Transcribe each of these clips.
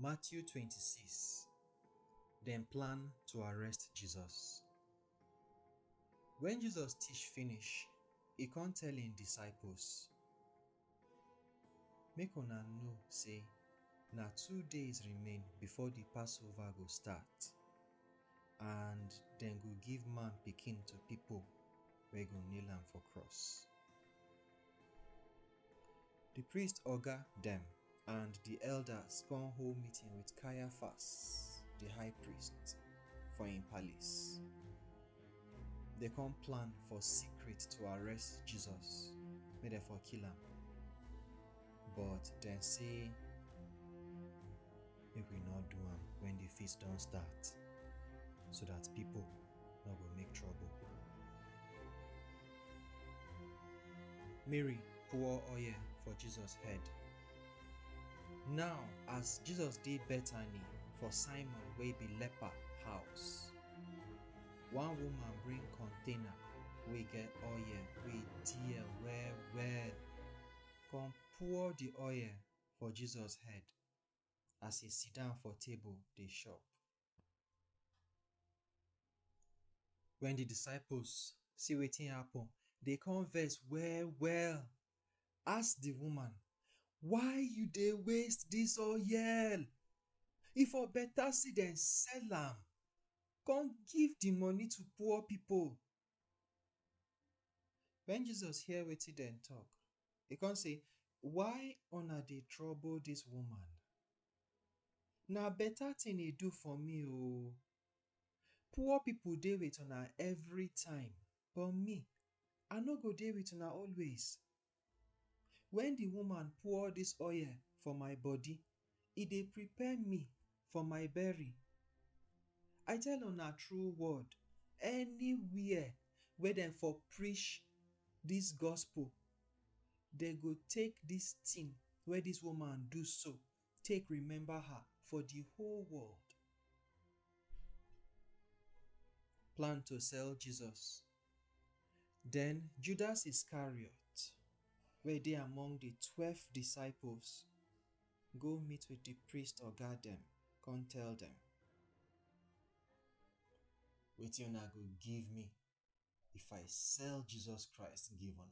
Matthew 26 Dem plan to arrest Jesus. Wen Jesus teach finish, e kon tell im disciples, Make una know sey na two days remain before di Passover go start, and dem go give Man Pikin to pipo wey go nail am for cross. Di priest oga dem and di elders kon hold meeting with Caiaphas, di high priest, for im palace. Dem kon plan for secret to arrest Jesus make dem for kill am, but dem say, make we no do am when the feast don start so that people no go make trouble. Mary pour oil for Jesus head. Now as Jesus dey Bethany for Simon wey be leper house, one woman bring container wey get oil wey dear well well come pour the oil for Jesus head. as e siddon for table dey chop. Wen di disciples see wetin happen, dem come vex well-well, ask di woman, “Why you dey waste dis oil? E for beta sey dem sell am come give di money to poor pipu.” Wen Jesus hear wetin dem talk, e come say, Why una dey trouble dis woman? Na better thing e do for me oo. Poor pipu dey with una everytime but me, I no go dey with una always. Wen di woman pour dis oil for my body, e dey prepare me for my bury. I tell una true word, anywhere wey dem for preach dis gospel, dem go take dis tin wey dis woman do so, take remember her for the whole world. Plan to sell Jesus. Then Judas Iscariot, where they among the twelve disciples, go meet with the priest or guard them, come tell them. Wetin una go give me if I sell Jesus Christ give una?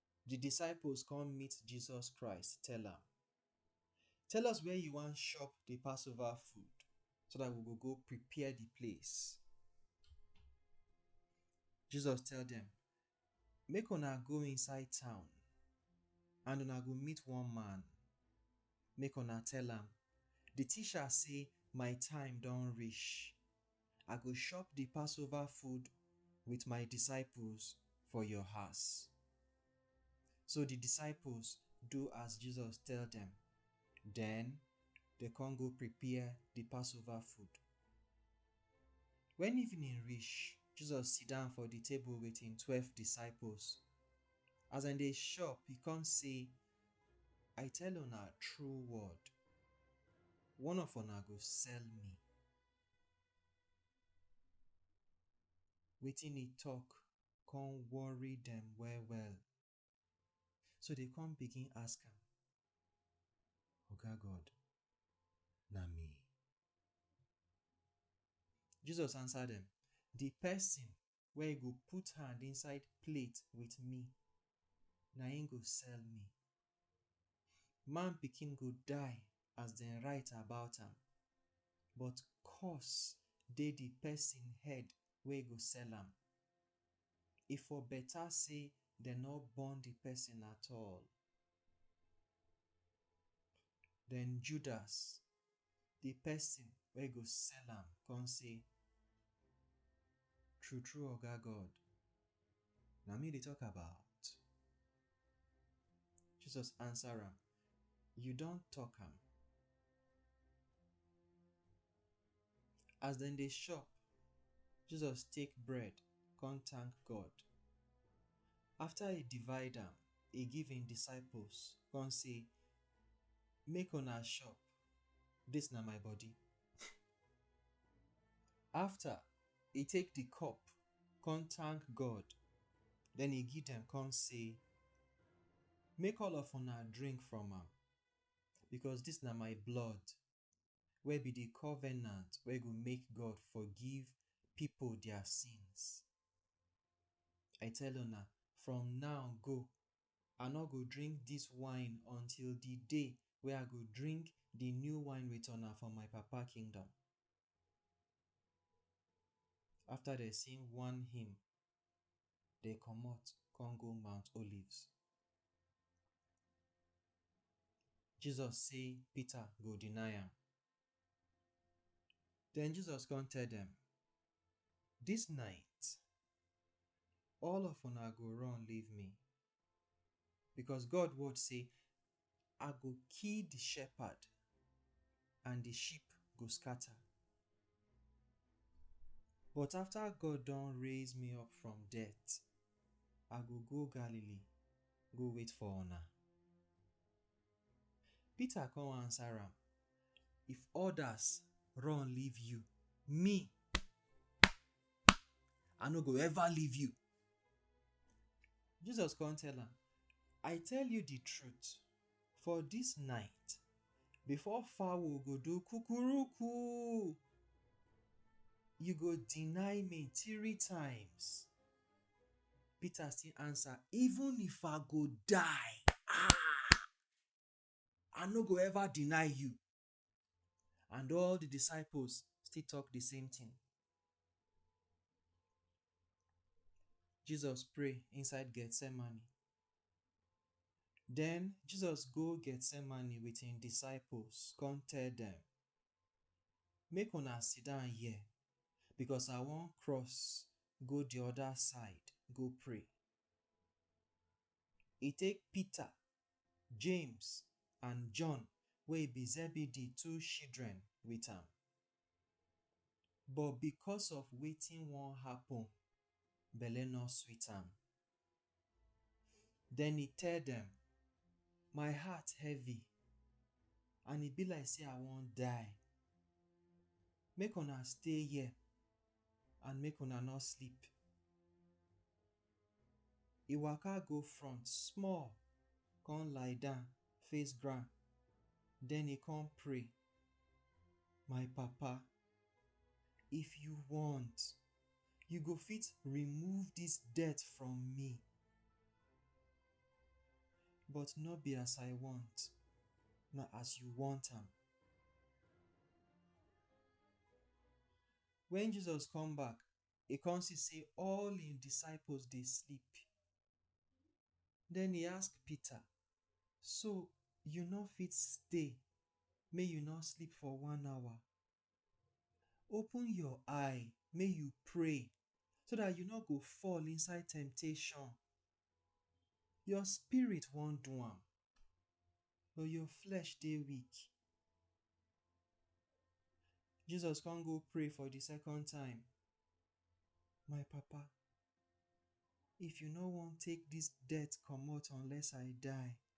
Di disciples kon meet Jesus Christ tell am, Tell us where you wan shop di Passover food so dat we go go prepare di place. Jesus tell dem, Make una go inside town and una go meet one man. Make una tell am, Di Teacher sey, My time don rish, I go chop di Passover food wit my disciples for your house. So di disciples do as Jesus tell dem, den dem kon go prepare di Passover food. Wen evening reach, Jesus sidon for di table wit hin twelve disciples. As dem dey chop, e kon sey, I tell una true word, one of una go sell me. Wetin e talk come worry dem well well, so dem come begin ask am, Oga God, na me? Jesus answer dem, Di pesin wey e go put hand inside plate with me, na im go sell me. Man Pikin go die as dem write about am, but curse dey the person head wey go sell am. E for better say dem no born the person at all. Then Judas Di pesin wey go sell am kon sey, True-true Oga God, na me you dey tok about. Jesus ansa am, You don tok am. As dem dey shop, Jesus take bread kon tank God. Afta e divide am, e give im disciples kon sey, make una chop, dis na my body. After, e take di cup, kon tank God, den e give dem kon sey, Make all of una drink from am, bikos dis na my blood wey be di covenant wey go make God forgive pipo dia sins. I tell una, from now go, I nor go drink dis wine until di day wey I go drink di new wine wit una for my Papa kingdom. After dem sing one hymn, dem comot come go Mount Olives. Jesus say Peter go deny am. Den Jesus come tell dem, Dis night, all of una go run leave me Because God word say, I go kill the shepherd and the sheep go scatter. But after God don raise me up from death, I go go Galilee, go wait for una. Peter come answer am, If others run leave you, me I no go ever leave you. Jesus come tell am, I tell you the truth, for this night, before fowl go do kukuruku, you go deny me three times. Peter still answer, even if I go die, ah, I no go ever deny you. And all the disciples still talk the same thing. Jesus pray inside Gethsemane. Then Jesus go Gethsemane with him disciples, come tell them, make una sit down here because I wan cross go the other side go pray. E take Peter James and John wey be Zebedee two shidren wit am. But bikos of wetin won happen, belle nor sweet am. Den e tell dem, My heart heavy and e be like sey I won die. Make una stay here and make una nor sleep. E waka go front small, con lie down face ground, den e con pray, My Papa, if you want, you go fit remove dis death from me, but no be as I want, na as you want am. Wen Jesus come back, e come see sey all im disciples dey sleep. Den e ask Peter, so you nor fit stay mey you nor sleep for one hour? Open your eye mey you pray, so dat you nor go fall inside temptation. Your spirit wan do am, but your flesh dey weak. Jesus come go pray for the second time, My Papa, if you no wan take this death comot unless I die,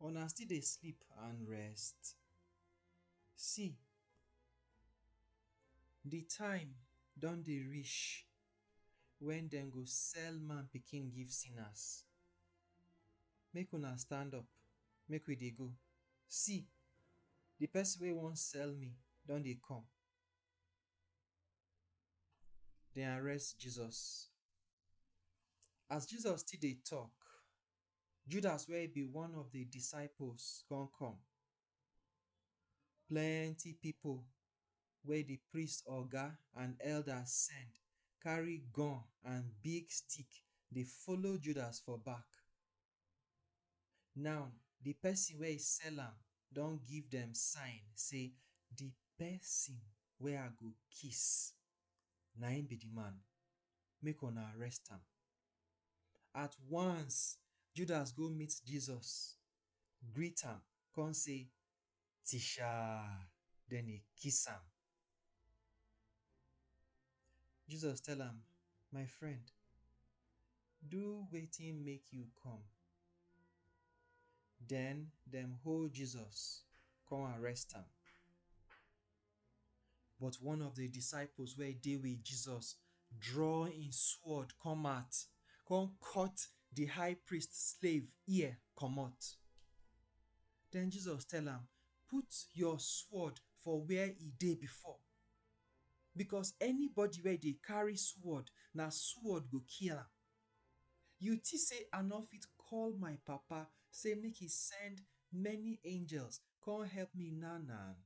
una still dey sleep and rest? See, di time don dey reach wen dem go sell man pikin give sinners. Make una stand up, make we dey go. See! Di pesin wey wan sell me don dey come. Dem arrest Jesus. As Jesus still dey tok, Judas wey be one of di disciples come come. Plenty pipo wey di priest oga and elders send carry gun and big stick dey follow Judas for back. Now, di pesin wey sell am don give dem sign say, Di pesin wey I go kiss, na im be di man. Make una arrest am. At once, Judas go meet Jesus, greet am, come say, Teacher, then he kiss am. Jesus tell am, My friend, do wetin make you come. Then dem hold Jesus, come arrest am. But one of the disciples wey dey with Jesus draw im sword come out, come cut the high priest slave ear comot. Then Jesus tell am, Put your sword for where e dey before, because anybody wey dey carry sword, na sword go kill am. You think say I no fit call my Papa say make e send many angels come help me now now?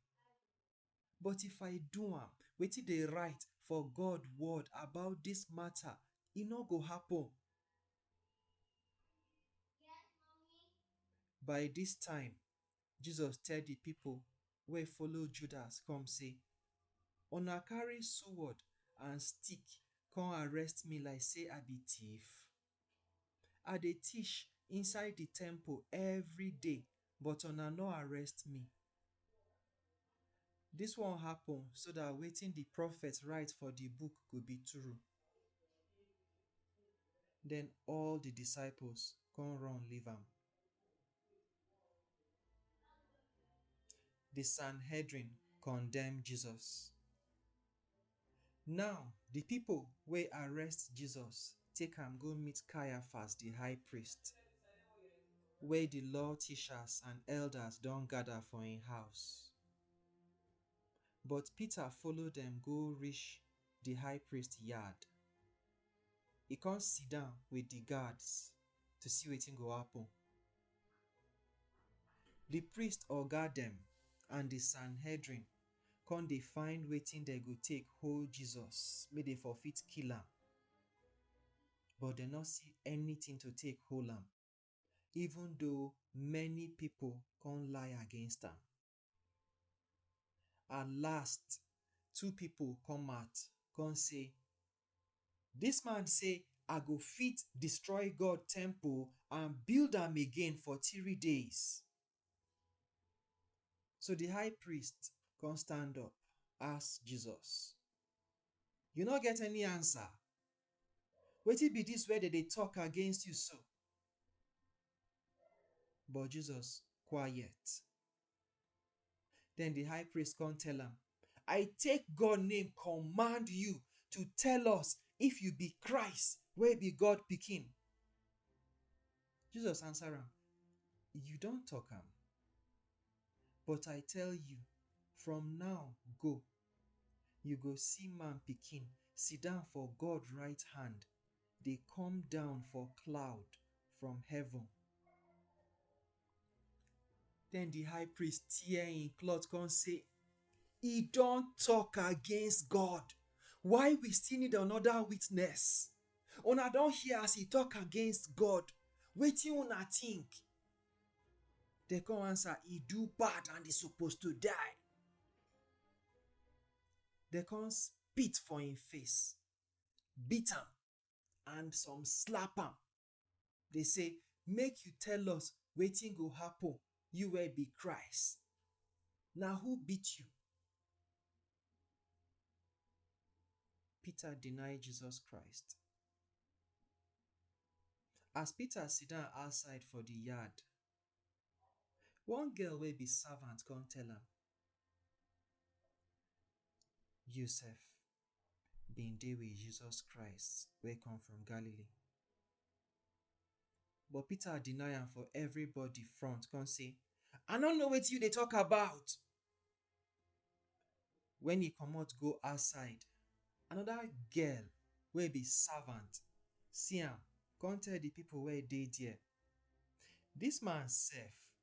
But if I do am, wetin dey write for God word about dis mata, e no go happen. By dis time, Jesus tell di pipo wey follow Judas come sey, Una carry suwod and stick come arrest me like sey I be tiff? I dey teach inside di temple everyday but una no arrest me. Dis one happen so dat wetin di prophet write for di book go be true. Den all di disciples kon run leave am. The Sanhedrin condemn Jesus. Now, the people wey arrest Jesus take am go meet Caiaphas the high priest, wey the law teachers and elders don gather for im house. But Peter follow dem go reach the high priest yard. E come sit down with the guards to see wetin go happen. Di priest oga dem and di Sanhedrin come dey find wetin dem go take hold Jesus make dem for fit kill am, but dem no see anytin to take hold am even though many pipo come lie against am. At last, two people come out come say, This man say, I go fit destroy God temple and build am again for three days. So the high priest come stand up, ask Jesus, You no get any answer? Wetin be this wey dem dey talk against you so? But Jesus quiet. Den di high priest kon tell am, I take God name kommand yu to tell us if yu bi Christ wey bi God Pikin. Jesus ansa am, Yu don tok am. But I tell yu, from naw go, yu go si Man Pikin sidon for God rite hand dey kom down for cloud from heaven. Then the high priest tear him cloth come say, He don't talk against God. Why we still need another witness? Una don't hear as he talk against God. Wetin una think? They come answer, He do bad and he supposed to die. They come spit for him face, beat him, and some slap him Dey say, Make you tell us wetin go happen, you wey be Christ. Na who beat you? Peter deny Jesus Christ. As Peter sidan outside for di yard, one girl wey be servant come tell am, You sef, bin dey wit Jesus Christ wey come from Galilee. But Peter deny am for everybody front come say, I no know wetin you dey talk about. Wen e comot go outside, another girl wey be servant see am come tell di pipu wey dey there, Dis man sef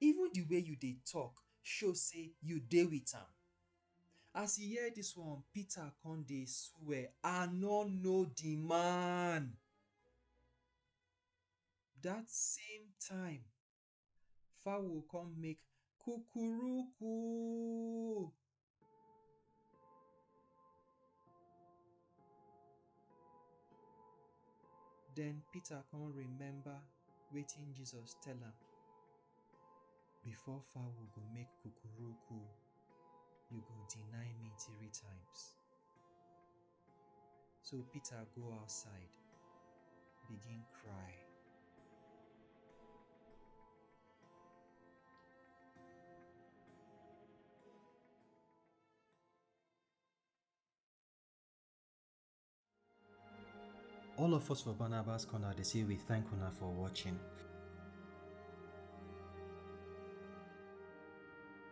Even the way you dey talk show say you dey with am. As e hear this one, Peter come dey swear, I no know the man. That same time, fowl come make kukuruku. Den Peter come remember wetin Jesus tell am, Before fowl go make kukuruku, you go deny me three times. So Peter go outside, begin cry. All of us for Barnabas Corner, they say we thank Una for watching.